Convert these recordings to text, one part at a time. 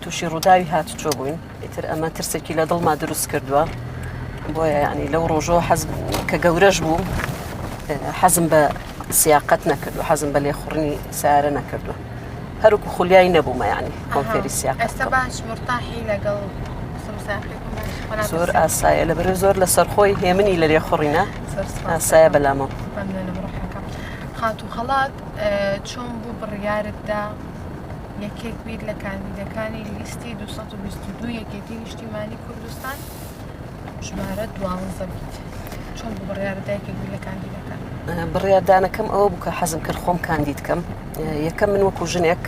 تووشی ڕووداوی هاتوچۆ بووین ئیتر ئەمە ترسێکی لە دڵما دروست کردووە بۆیە ینی لەو ڕۆژەوە حەز کە گەورەش بوو حەزم بە سیاقەت نەکردو حەزم بە لێخوڕنی سارە نەکردو هەروکو خولیای نەبوومە ینی کۆنفێری سیاق زۆر ئاسایە لە بەرە زۆر لە سەرخۆی هێمنی لە لێخوڕینە ئاسایە بەلامە خاتو خەڵات چۆن بوو بڕیارتدا یەکێک بیت لە کاندیدەکانی لیستی 222 یەکێتی نیشتیمانی کوردستان ژمارە دوانزە بیت چۆن بۆ بڕیارە دایکێک بیت لە کاندیدەکان بڕیاردانەکەم ئەوە بوو کە حەزم کرد خۆم کاندید کەم یەکەم من وەکو ژنێک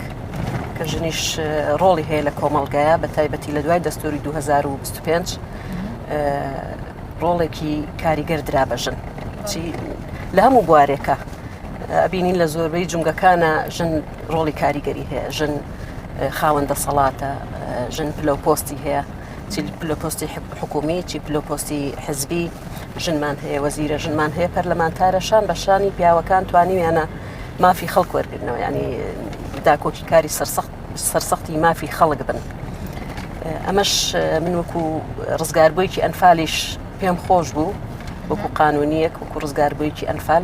کە ژنیش ڕۆڵی هەیە لە کۆمەڵگایە بە تایبەتی لە دوای دەستوری 2025 ڕۆڵێکی کاریگەر درا بە ژن لە هەموو بوارێکە ئەبینین لە زۆربەی جونگەکانە ژن ڕۆڵی کاریگەری هەیە ژن خاوەن دەسەڵاتە ژن پلو پۆستی هەیە پلو پۆستی حکومی چی پلو پۆستی حزبی ژنمان هەیە وەزیرە ژنمان هەیە پەرلەمانتارە شان بە شانی پیاوەکان توانیویانە مافی خەڵک وەرگرنەوە ینی داکۆکی کاری سەرسەخت سەرسەختی مافی خەڵک بن ئەمەش من وەکو ڕزگاربوویکی ئەنفالیش پێم خۆش بوو وەکو قانونیەک وەکو ڕزگاربوویکی ئەنفال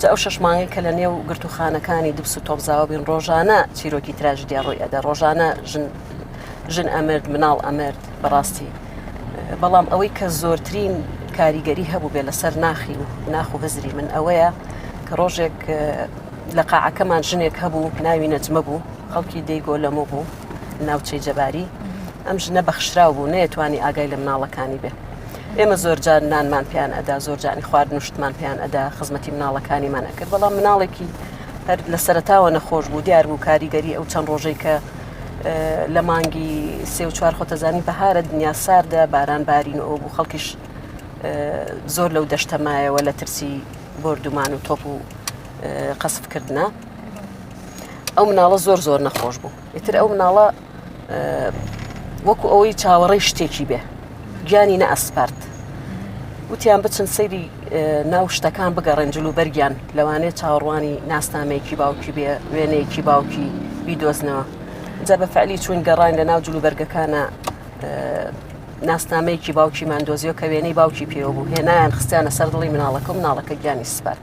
جا ئەو شەش مانگەی کە لە نێو گرتووخانەکانی دبس و تۆپزاوە بین ڕۆژانە چیرۆکی تراژدیا ڕووی ئەدا ڕۆژانە ژن ژن ئەمرد مناڵ ئەمرد بەڕاستی بەڵام ئەوەی کە زۆرترین کاریگەری هەبوو بێ لەسەر ناخی و ناخ و هزری من ئەوەیە کە ڕۆژێک لە قاعەکەمان ژنێک هەبوو ناوی نەجمە بوو خەڵکی دەی گۆلەمە بوو ناوچەی جەباری ئەم ژنە بەخشراو بوو نەیەتوانی ئاگای لە مناڵەکانی بێت ئێمە زۆرجار نانمان پێیان ئەدا زۆرجانی خوارد نوشتمان پێیان ئەدا خزمەتی مناڵەکانیمان ئەکرد بەڵام مناڵێکی هەر لە سەرتاوە نەخۆش بوو دیار بوو کاریگەری ئەو چەند ڕۆژەی کە لە مانگی سێ و چوار خۆتەزانی بەهارە دنیا ساردە باران بارین ئەو بوو خەڵکیش زۆر لەو دەشتەمایەوە لە ترسی بردومان و تۆپ و قەسفکردە ئەو مناڵە زۆر زۆر نەخۆش بوو ئیتر ئەو مناڵە وەکو ئەوەی چاوەڕێی شتێکی بێ گیانی نە ئەسپارت وتیان بچن سەیری ناو شتەکان بگەڕێن جلو بەرگیان لەوانەیە چاوەڕوانی ناسنامەیەکی باوکی بێ وێنەیەکی باوکی بیدۆزنەوە جا بە فعلی چون گەڕان لە ناو جلو بەرگەکانە ناسنامەیەکی باوکی مادۆزیۆ کە وێنەی باوکی پێوە بوو هێنایان خستیانە سەر دڵی مناڵەکە مناڵەکە گیانی سپارد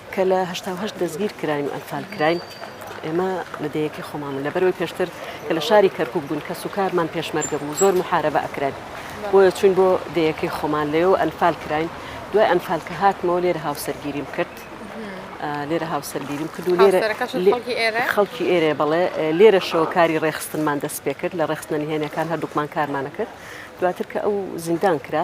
کە لە هەشتا و هەشت دەستگیر کراین و ئەنفال کراین، ئێمە لە دێیەکەی خۆمان بوون، لەبەرئەوەی پێشتر کە لە شاری کەرکووک بووین کەسوکارمان پێشمەرگە بوو، زۆر موحارەبە ئەکراین، بۆیە چووین بۆ دێیەکەی خۆمان، لەوێوە ئەنفال کراین، دوای ئەنفال کە هاتمەوە لێرە هاوسەرگیریم کرد، لێرە هاوسەرگیریم کرد و لێرە خەڵکی ئێرەیە، بەڵێ لێرەشەوە کاری ڕێکخستنمان دەست پێکرد، لە ڕێکخستنە نهێنییەکان هەردووکمان کارمان ئەکرد، دواتر کە ئەو زیندان کرا،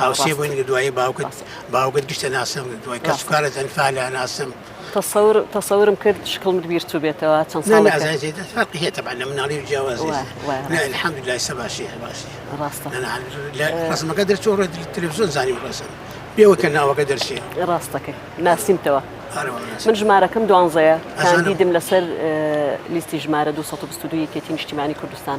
هاوسێ بووین کە دوایی باوکت باوکت گشتە ناسم دوای کەس کارە تەنفا لە ناسم تەسەور تەسەورم کرد شکڵمت بیرچوو بێتەوە چەند ساڵ فەرقی هەیە تەبان لە مناڵی جیاواز الحمد لله سە باشی باشی ڕاستە لە ڕسمەکە دەرچۆ ڕێ تلویزیۆن زانی ڕسم پێوە کە ناوەکە دەرچێ ڕاستەکە ناسیمتەوە من ژمارەکەم دوانزەیە کاندیدم لەسەر لیستی ژمارە 222 یەکێتی نیشتیمانی کوردستان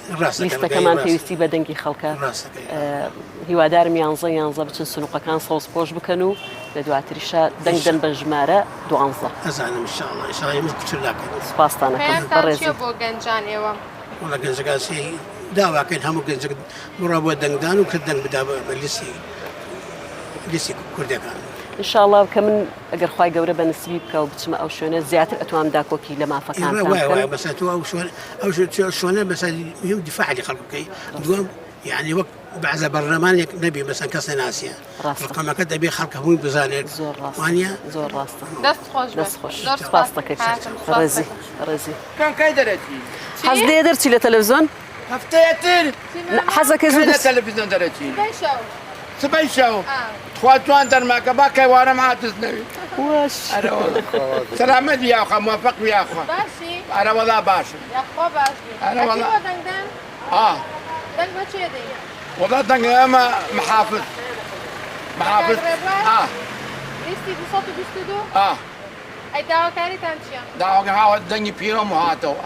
لیستەکەمان پێویستی بە دەنگی خەڵکە هیوادارم یانزە یانزە بچن سنوقەکان سەوز پۆش بکەن و لە دواتریشە دەنگدەن بە ژمارە دوانزە بۆ گەنجان ئێوە وڵە گەنجگاسی داواکەین هەموو گەنج بڕە بۆ دەنگدان و کە دەنگ بدا بە لیستی لیستی کوردەکان انشاءڵا کە من ئەگەر خوای گەورە بە نسیبی بکا و بچمە ئەو شوێنە زیاتر ئەتوام داکۆکی لە مافەکانتان بکەم. ئێوە وای وای بەسە تۆ ئەو شوێن ئەو شوێنە بەسە مهم دفاع لە خەڵک بکەی دووەم یعنی وەک بەعزە بەرلەمانێک نەبی بەسەن کەس نەناسیە ڕقەمەکە دەبێ خەڵکە هەمووی بزانێت زۆر ڕاستوانە زۆر ڕاستە دەست خۆش دەست خۆش ڕاستەکە ڕێزی ڕێزی کاکای دەرەکی حەز لێ دەرچی لە تەلەڤزۆن هەفتەیەتر حەزەکە زوو لە تەلەفیزیۆن دەرەچی سبەی شەو تخوا جوان دەرماکە با کەوارەم عادز نەوی سەلامەت یاخوا موفق یاخوا ئەرە وەڵا باشم وەڵا دەنگ ئەمە محافظ محافظ داواکاریتان چیە؟ داواکە هاوە دەنگی پیرۆم هاتەوە.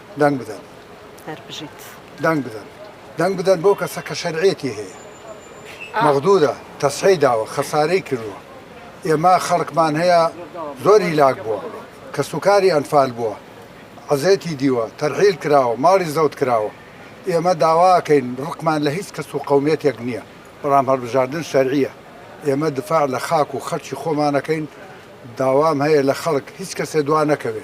دەنگ بدەن. هەر بژیت. دەنگ بدەن. دەنگ بدەن بەو کەسە کە شەرعیەتی هەیە. مەغدورە تەسحی داوە خەسارەی کردوە. ئێمە خەڵکمان هەیە زۆر هیلاک بوە. کەسوکاری ئەنفال بوە. عەزێتی دیوە. تەرحیل کراوە. ماڵی زەوت کراوە. ئێمە داوا ئەکەین ڕقمان لە هیچ کەس و قەومیەتێک نیە. بەڵام هەڵبژاردن شەرعیە. ئێمە دفاع لە خاک و خەڵکی خۆمان ئەکەین. داوام هەیە لە خەڵک هیچ کەسێ دوا نەکەوێ.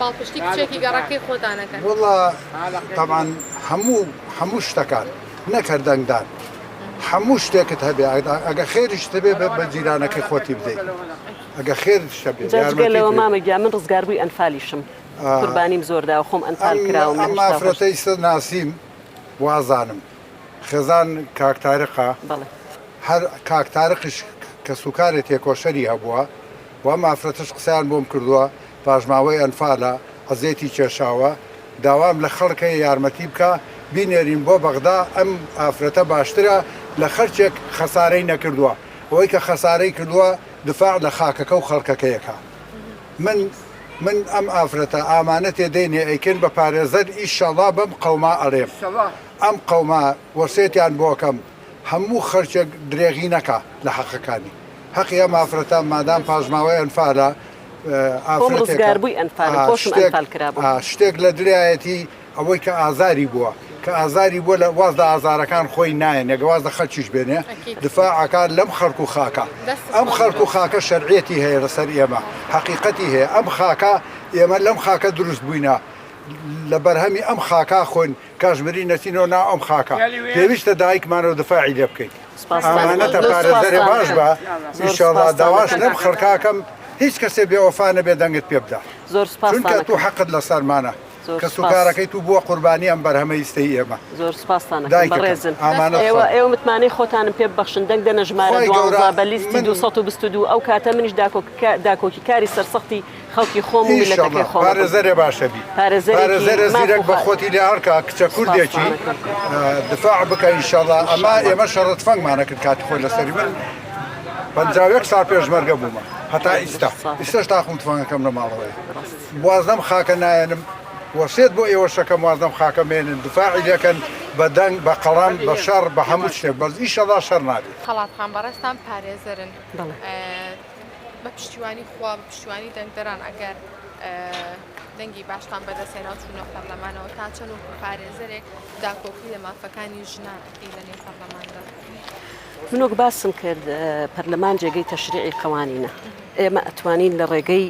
پاڵپشتی کچێکی گەڕەکی خۆتان ئەکەن؟ وەڵا تەبعەن هەموو هەموو شتەکان نەک هەر دەنگدان هەموو شتێکت هەبێ ئەگەر خێریشت هەبێ بە بە جیرانەکەی خۆتی بدەی ئەگەر خێرت شەبێ جا جگە یارمەتیت لەوە بێ. مامە گیان من ڕزگاربووی ئەنفالیشم قوربانیم زۆر داوە خۆم ئەنفال ئەم کراوم لە ئەم هەشتا و هەشت ئافرەتەی ست ناسیم وازانم خێزان کاک تارقە بەڵێ هەر کاک تارقیش کەسوکارێ تێکۆشەری هەبووە و ئەم ئافرەتەش قسەیان بۆم کردووە پاشماوەی ئەنفالە عەزێتی کێشاوە داوام لە خەڵک هەیە یارمەتی بکا بینێرین بۆ بەغدا ئەم ئافرەتە باشترە لە خەرکێک خەسارەی نەکردوە ئەوەی کە خەسارەی کردوە دفاع لە خاکەکە و خەڵکەکەی ئەکا من من ئەم ئافرەتە ئامانەتێ دەینێ ئەیکەین بە پارێزەر ئیشەڵا بەم قەوما ئەڵێم ئەم قەوما وەسێتیان بۆ ئەکەم هەموو خەرکێک درێغی نەکا لە حەقەکانی هەقی ئەم ئافرەتە مادام پاشماوەی ئەنفالە شتێک لە درایەتی ئەوەی کە ئازاری بووە کە ئازاری بووە لە واز لە ئازارەکان خۆی نایە نەگەواز لە خەلکیش بێنێ دفاعکار لەم خەرک و خاکە ئەم خەرک و خاکە شەرعەتی هەیە لەسەر ئێمە حقیقەتی هەیە ئەم خاکە ئێمە لەم خاکە دروست بووینە لە بەرهەمی ئەم خاکا خۆن کاشمیری نەچینۆ ناو ئەم خاکە پێویستە دایکمان و دفاعی لێ بکەیت ئامانەتە پارێزەرێ باش بە ئیشەڵا داواش لەم خەرکاکەم هیچ کەسێ بێ وەفا نەبێ دەنگت پێ بدە زۆر سپاس چونکە تو حەقت لە سەرمانە کەس و کارەکەی تو بووە قوربانی ئەم بەرهەمە ئیستەی ئێمە زۆر سپاسان دایکڕێزن ئامانەوە ئێوە متمانەی خۆتانم پێ بەخشن دەنگ دەنە ژمارە بە لیستی 222 ئەو کاتە منیش داکۆکی کاری سەرسەختی خەڵکی خۆم و میلەتەکەی خۆم بم. پارێزەرێ باشەبی. پارێزەرێکی ماف و خاک. پارێزەرێ زیرەک بە خۆتی لێ هەڵکا کچە کوردێکی دفاع بکە ان شاء اللە ئەما ئێمە شەڕە تفەنگمان ئەکرد کاتی خۆی لە سەری من پەنجا و یەک ساڵ پێشمەرگە بوومە هەتا ئیستا ئیستاش تاقم و تفەنگەکەم لە ماڵەوەیە واز لەم خاکە نایەنم وەسێت بۆ ئێوەش ئەکەم واز لەم خاکە مەیەنن دفاعی لێ کەن بە دەنگ بە قەڵەم بە شەڕ بە هەموو شتێک بەس ان شاء اللە شەڕ نابێت. خەڵاتخان بەڕێزتان پارێزەرن. بەڵێ. بە پشتیوانی خوا بە پشتیوانی دەنگدەران ئەگەر دەنگی باشتان بەدەستێنا چوونە پەرلەمانەوە تا چەند وەکو پارێزەرێک داکۆکی لە مافەکانی ژنان ئەکەی لە نێو پەرلەماندا من وەک باسم کرد پەرلەمان جێگەی تەشریعی قەوانینە ئێمە ئەتوانین لە ڕێگەی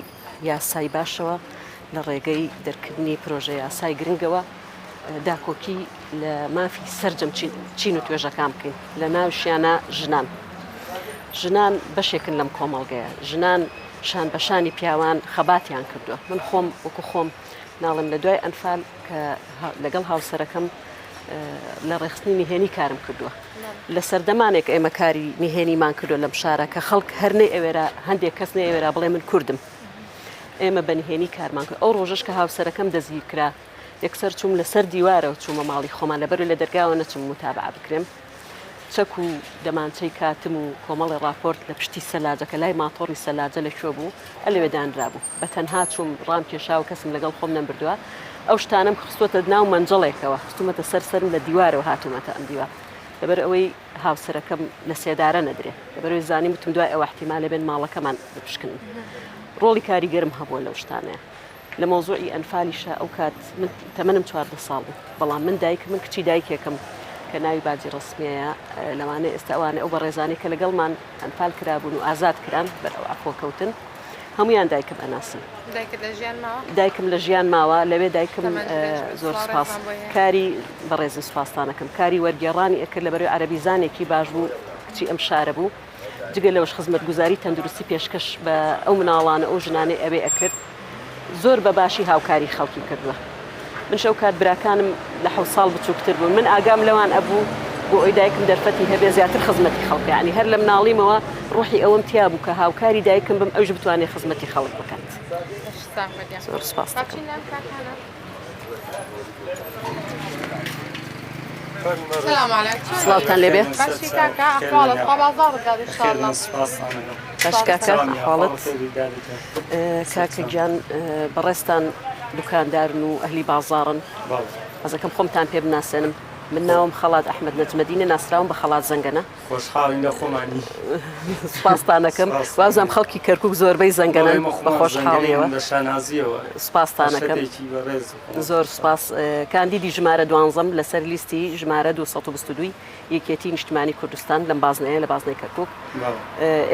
یاسای باشەوە لە ڕێگەی دەرکردنی پرۆژەیاسای گرنگەوە داکۆکی لە مافی سەرجەم چین و توێژەکان بکەین لە ناوشیانە ژنان ژنان بەشێکن لەم کۆمەڵگەیە ژنان شان بەشانی پیاوان خەباتیان کردووە من خۆم وەکو خۆم ناڵێم لە دوای ئەنفال کە لەگەڵ هاوسەرەکەم لە ڕێخستنی نهێنی کارم کردووە لە سەردەمانێک ئێمە کاری نهێنیمان کردو لەم شارە کە خەڵک هەرنەی ئەوێرا هەندێک کەس نەی ئەوێرا بڵێ من کردم ئێمە بە نهێنی کارمان کرد ئەو ڕۆژش کە هاوسەرەکەم دەستگیر کرا یەکسەر چوم لەسەر دیوارە و چوومە ماڵی خۆمان لەبەر لە دەرگاوە نەچم متابع بکرێم چەک و دەمانچەی کاتم و کۆمەڵێ ڕاپۆرت لە پشتی سەلاجەکە لای ماتۆڕی سەلاجە لە کوێ بوو ئە لەوێ دانرابوو بە تەنها چووم ڕام کێشا و کەسم لەگەڵ خۆم نەمبردووە ئەو شتانەم خستوەتە ناو مەنجەڵێکەوە خستومەتە سەر سەرم لە دیوارەوە هاتوومەتە ئەم دیوار لەبەر ئەوەی هاوسەرەکەم لە سێدارە نەدرێ لەبەرەوەی زانی وتم دوای ئەوە احتیمالە بێن ماڵەکەمان بپشکنن ڕۆڵی کاریگەرم هەبووە لەو شتانەیە لە مەوزوعی ئەنفالیشا ئەو کات من تەمەنم چواردە ساڵ بوو بەڵام من دایکم من کچی دایکێکم کە ناوی باجی ڕسمیەیە لەوانە ئێستا ئەوانە ئەو بەڕێزانانی کە لەگەڵمان ئەنفال کرابوون و ئازاد کران بەر ئەو ئەخۆ کەوتن هەمویان دایکم ئەناسم دایکم لە ژیان ماوە لەوێ دایکم زۆر سپاس کاری بەڕێزی سپاسانەکەم کاری وەرگێڕانی ئەکرد لە بەرەوەی عەربیزانێکی باش بوو کچی ئەم شارە بوو جگە لەوەش خزمەتگوزاری تەندروستی پێشکەش بە ئەو مناڵانە ئەو ژنانەی ئەوێ ئەکرد زۆر بە باشی هاوکاری خەڵکی کردووە منش ئەو کات براکانم لە حەوت ساڵ بچووکتر بوون من ئاگام لەوان ئەبوو بۆ ئەوی دایکم دەرفەتی هەبێ زیاتر خزمەتی خەڵکانی هەر لە مناڵیمەوە ڕوحی ئەوەم تیا بوو کە هاوکاری دایکم بم ئەوش بتوانێت خزمەتی خەڵک بکات سپاس دەکەم. سڵاوتان لێ بێ خاڵت کاکە گیان بەڕێستان دوکاندارن و ئەهلی بازارن ئەزەکەم خۆمتان پێ بناسێنم من ناوم خەڵات ئەحمد نەجمەدینە ناسراوم بە خەڵات زەنگەنە خۆشحاڵین لە خۆمانی سوپاستانەکەم وازم خەڵکی کەرکک زۆربەی زەنگەنەوەی خۆشحاڵیەوە لە شانازیەوە سوپاستانەکەم زۆر سوپاس کاندیدی ژمارە دوانزەم لەسەر لیستی ژمارە 2022 یەکێتی نیشتمانی کوردستان لەم بازنەیە لە بازنەی کەرکک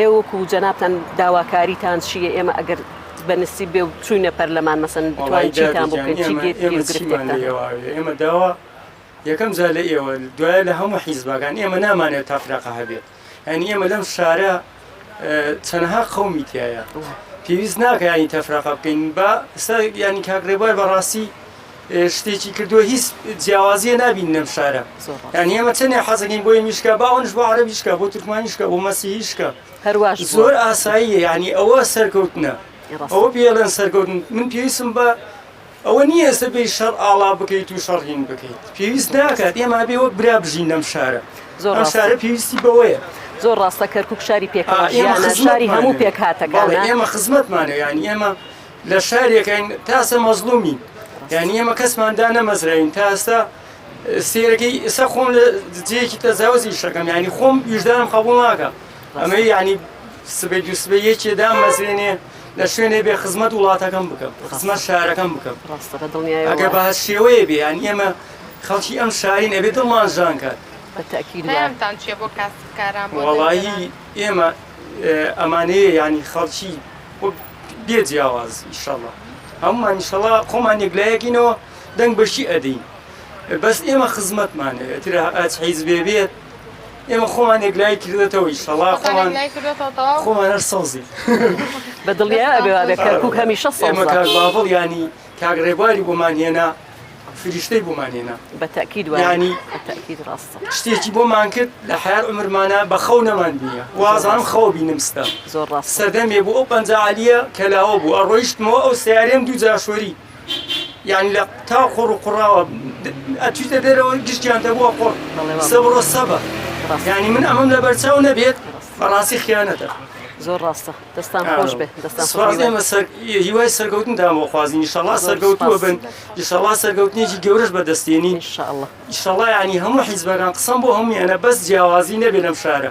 ئێوەکو جەنابان داواکاریتان چیە ئێمە ئەگەر بەنسی بێ و چوینە پەرلەمان مەسن بتوانیتان بکەین ئێمە داوا یەکەم جار لە ئێوە دوایە لە هەموو حیزبەکان ئێمە نامانەوێت تەفرەقە هەبێت ینی ئێمە لەم شارە چەنەها قومی تایە پێویست ناکەیانی تەفرەقە بکەین با ینی کاکڕێبوار بەڕاستی شتێکی کردووە هیچ جیاوازیە نبین لەم شارە یان ئێمە چەندێ حەزەکەین بۆی میشکە باونش بۆ عربیشکە بۆ تورکمانیشکە بۆ مەسیهیشکە هەرواش زۆر ئاساییە ینی ئەوە سەرکەوتنە ئەوە پێڵێن سەرکەوتن من پێویستم بە ئەوە نییە ئێستا بێیت شەڕ ئاڵا بکەیت و شەڕ هین بکەیت پێویست ناکات ئێمە ئەبێ وەک برا بژین لەم شارە زۆر ئەم شارە پێویستی بەوەیە زۆر ڕاستە کەرکک شاری پێکەوەژیانە شاری هەموو پێک هاتەکان ئێمە خزمەتمانە یانی ئێمە لە شارێکین تاسە مەزلومین یانی ئێمە کەسماندا نەمەزراین تاستا سێرەکەی ئسا خۆم لە جەیەکی تەزاوزی شەکەم ینی خۆم ویژدانم قبول ناکە ئەمەی یانی سبەی دوو سبەی یەکێ دامەزرێنێ لە شوێنێ بێ خزمەت وڵاتەکەم بکەم خزمەت شارەکەم بکەم ئەگە بە شێوەیە بێ یان ئێمە خەڵکی ئەم شارین ئەبێ دڵمان ژان کات وڵایی ئێمە ئەمانەیە ینی خەڵکی بێ جیاواز ئیشەڵە هەمومان ئیشەڵا خۆمان یەکلایەکینەوە دەنگ بەشی ئەدەین بەس ئێمە خزمەتمانەوێت حیز بێ بێت ئێمە خۆمان یەکلایی کردێتەوە ئیشەڵا خۆمان خۆمان هەر سەوزی بە دڵیا ئەبێ کەرکک هەمیشە سەمە کار باڤڵ ینی کاک ڕێبواری بۆمان هێنا فریشتەی بۆمان هێنا بە تاکید وانی تاکید ڕاستە شتێکی بۆمان کرد لە حیار عمرمانە بە خەو نەمان بیە وازان خەو بینم ستە زۆر ڕاست سەردەمێ بۆ ئەو پەنجاعالیە کەلاوە بوو ئەڕۆیشتمەوە ئەو سیارێن دوو جاشۆری یانی لە تا قوڕ و قوڕاوە ئەچیتە دەرەوە گشتیان دەبووە قوڕ سە بڕۆ سەبە یانی من ئەمەم لە بەرچاو نەبێت بەڕاستی خیانەتە زۆر ڕاستە دەستان خۆش بێ دەستان هیوای سەرگەوتن دام بۆ خوازی نیشەڵا سەرگەوتوە بن یشەڵا سەرگەوتنێکی گەورەش بەدەستێنی شەڵا ینی هەموو حیزبەکان قسەم بۆ هەمویانە بەس جیاوازی نەبێ لەم شارە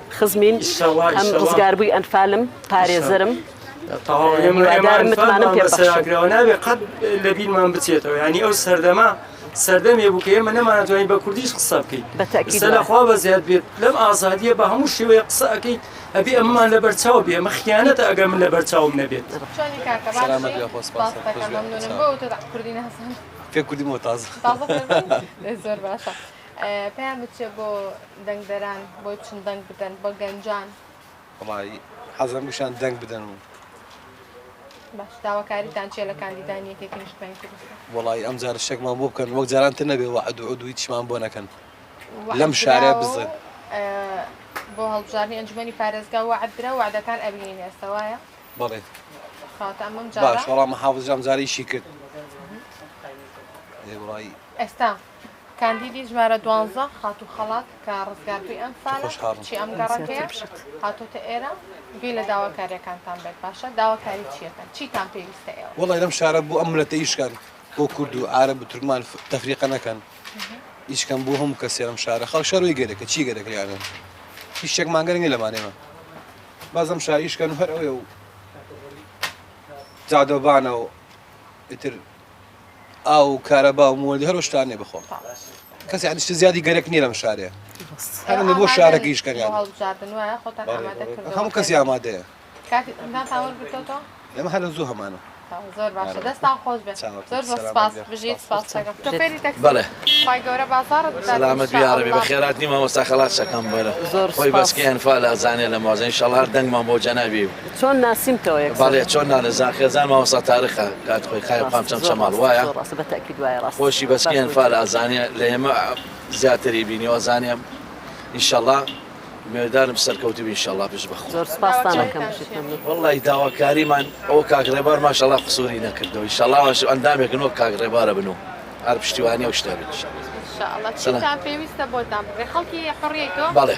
خزمین هەم ڕزگاربووی ئەنفالم پارێزەرم هیوادارم متمانەم پێ بەخشێتەوە نابێ قەت لە بیرمان بچێتەوە ینی ئەو سەردەما سەردەمێ بوو کە ئێمە نەمانەتوانین بە کوردیش قسە بکەیت بەتەکیسە لەخوا بە زیاد بێت لەم ئازادیە بە هەموو شێوەیە قسە ئەەکەیت ئەبێ ئەممان لە بەرچاو بێ مە خیانەتە ئەگەر من لە بەرچاوم نەبێت کوردی مۆتاز زۆر باشە. پەیام بچێ بۆ دەنگدەران بۆی بچن دەنگ بدەن بە گەنجان. وەڵایی حەزم بشان دەنگ بدەن و. باش داواکاریتان چیە لە کاندیدانی یەکێتی نیشتمانی کوردستان؟ وەڵایی ئەم جارە شتێکمان بۆ بکەن وەک جاران تر نەبێ وەعد و عود و هیچمان بۆ نەکەن لەم شارەیە بزن. بۆ هەڵبژاردنی ئەنجومەنی پارێزگا وەعد درا و وەعدەکان ئەبینین ئێستا وایە؟ بەڵێ خاتە ئەمەم جارە. باش وەڵا مەحافز ئەم جارە ئیشی کرد. ئێ وەڵایی. ئێستا. کاندیدی ژمارە دوانزە خاتوو خەڵات کە ڕزگاربووی ئەم سالە تۆش هاڕن کچی ئەم گەڕەکەیە کەنسەر تێبشێت. هاتۆتە ئێرە گوێ لە داواکاریەکانتان بێت باشە داواکاری چیەکەن چیتان پێویستە ئێوە. وەڵای لەم شارە بۆ ئەم ملەتە ئیش کەن بۆ کورد و عارەب و تورکمان ف تەفریقە نەکەن ئیش کەن بۆ هەموو کەسێ لەم شارە خەڵک شەر وەی گەرەکە چی گەرەک لێیانە هیچ شتێکمان گەرەک نیە لەمان ئێمە باز ئەم شارە ئیش کەن و هەر ئەوێ و جادۆبانە و ئیتر ئاو و کارەبا و مۆدی هەرۆ شتان نیە بەخۆم کەس یعنی شتە زیادی گەرەک نیە لەم شارێ هەرە بۆ شارەکەیش کەن هەموو کەسی ئامادەیە ئێمە هەر زوو هەمانە زۆر باشە دەستان خۆش بێت زۆر زۆر سپاس بژیت سپاسەکەم شوفێری تەکسی بەڵێ خوای گەورە بازاڕت بدات سەلامەت بی یا ربی بەخێرات نیمە مامۆستا خەڵات شەکەم بەرە خۆی بەسکەی ئەنفال ئەزانێ لە مازە ان شاء الله هەر دەنگمان بۆ جەنابی چۆن ناسیمتەوە یەکسەر. بەڵێ چۆن نانزان خێزان مامۆستا تارقە کاک خۆی قایە قام چەم چەماڵ وایە خۆشی بەس کێ ئەنفال ئازانێ لە ئێمە زیاتری بینیەوە ئەزانێ ئینشەڵا میێدارم سەرکەوتوبی ئینشەڵا بژ بە خۆ وڵی داواکاریمان ئەو کاک ڕێبار ماشەڵا قسووری نەکردەوە ئینشەڵا واش ئەندامێکن وەک کاک ڕێبارە بن و هەر پشتیوانی و شتێ بێت پێویستە بۆتان بڵێ خەڵکی حڕێتەوە بەڵێ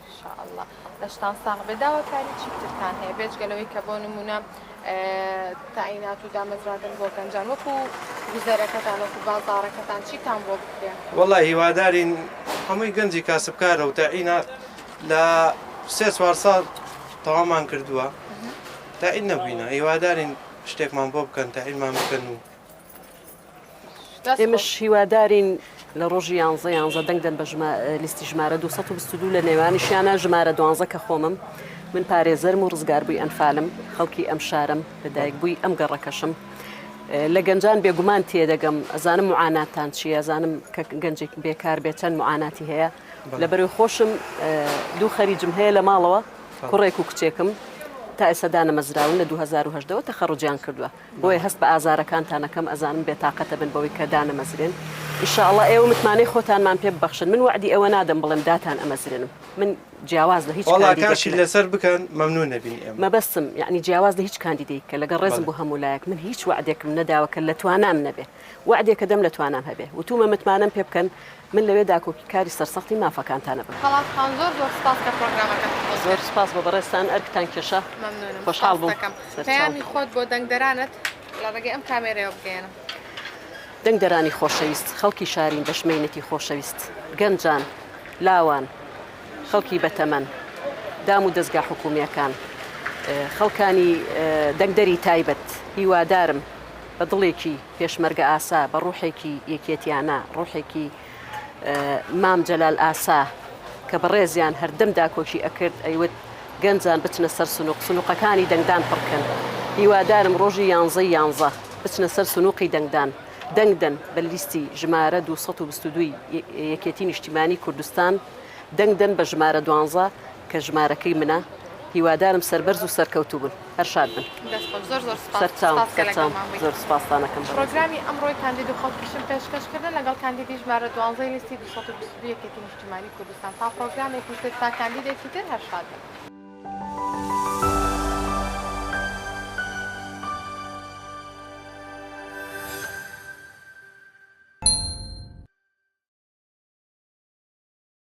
ان شاء اللە لەشتان ساغ بێ داواکاری چی ترتان هەیە بێجگە لەوەی کە بۆ نمونە تاعینات و دامەزراندن بۆ گەنجان وەکو گوزەرەکەتان وەکو بازارەکەتان چیتان بۆ بکرێ وەڵا هیوادارین هەمووی گەنجی کاسبکارە و تاعینات لە سێ چوار ساڵ تەوامان کردووە تاعین نەبووینە هیوادارین شتێکمان بۆ بکەن تاعینمان بکەن و ئێمەش هیوادارین لە ڕۆژی یانزە یانزە دەنگ دەن بە لیستی ژمارە 222 لە نێوانیشیانە ژمارە دوانزە کە خۆمم من پارێزەرم و ڕزگاربووی ئەنفالم خەڵکی ئەم شارم لە دایک بووی ئەم گەڕەکەشم لە گەنجان بێگومان تێدەگەم ئەزانم معاناتان چیە زانم کە گەنجێک بێکار بێت چەند معاناتی هەیە لە بەرەو خۆشم دوو خەریجم هەیە لە ماڵەوە کوڕێک و کچێکم تا ئێسەدا نەمەزراون لە 2010ەوە تەخەڕجیان کردووە بۆیە هەست بە ئازارەکانتان ئەکەم ئەزانم بێتاقەتە بن بەوەی کە دانەمەزرێن ان شاء اللە ئێوە متمانەی خۆتانمان پێ ببەخشن من وەعدی ئەوە نادەم بڵێم داتان ئەمەزرێنم من جیاواز لە هیچ کاندیدێک وەڵا کاشی لەسەر بکەن مەمنون نەبین ئێمە مەبەستم یەعنی جیاواز لە هیچ کاندیدێک کە لەگەڵ ڕێزم بۆ هەموو لایەک من هیچ وەعدێکم نەداوە کە لە توانام نەبێ وەعدێک کە دەم لە توانام هەبێ وتومە متمانەم پێ بکەن من لەوێ داکۆکی کاری سەرسەختی مافەکانتان ئەبم. خەڵات خان زۆر زۆر سپاس کە پرۆگرامەکەت خۆش کرد. زۆر سپاس بۆ بەڕێزتان ئەرکتان کێشا. مەمنونم خۆشحاڵ بووم. سپاستەکەم. پەیامی خۆت بۆ دەنگدەرانت لە ڕێگەی ئەم کامێرەیەوە بگەیەنە. دەنگدەرانی خۆشەویست، خەڵکی شارین بەشمەینەتی خۆشەویست، گەنجان، لاوان، خەڵکی بەتەمەن، دام و دەزگا حکومیەکان، خەڵکانی دەنگدەری تایبەت، هیوادارم بە دڵێکی. پێشمەرگەئاسا بە ڕوحێکی یەکێتیانە، ڕوحێکی مام جەلال ئاسا کە بەڕێزیان هەردەم داکۆکی ئەکرد ئەیوت گەنجان بچنە سەر سنوق سنوقەکانی دەنگدان پڕکەن هیوادارم ڕۆژی یانزەی یانزە بچنە سەر سنوقی دەنگدان دەنگ دەن بە لیستی ژمارە دوو سەد و بیست و دوو ی یەکێتی نیشتیمانی کوردستان دەنگ دەن بە ژمارە دوانزە کە ژمارەکەی منە هیوادارم سەربەرز و سەرکەوتوبن. هەر شاد بن. دەست خۆش زۆر زۆر سوپاس سەرچاوم سوپاس کە سەرچاوم لەگەڵمان بوویت. زۆر سوپاستان ئەکەم بەڕێزم. پڕۆگرامی ئەمڕۆی کاندید و خەڵکیشم پێشکەش کردن لەگەڵ کاندیدی ژمارە دوانزەی لیستی دوو سەد و بیست و دوو یەکێتی نیشتیمانی کوردستان تا پڕۆگرامێکی تر تا کاندیدێکی تر هەر شاد بن.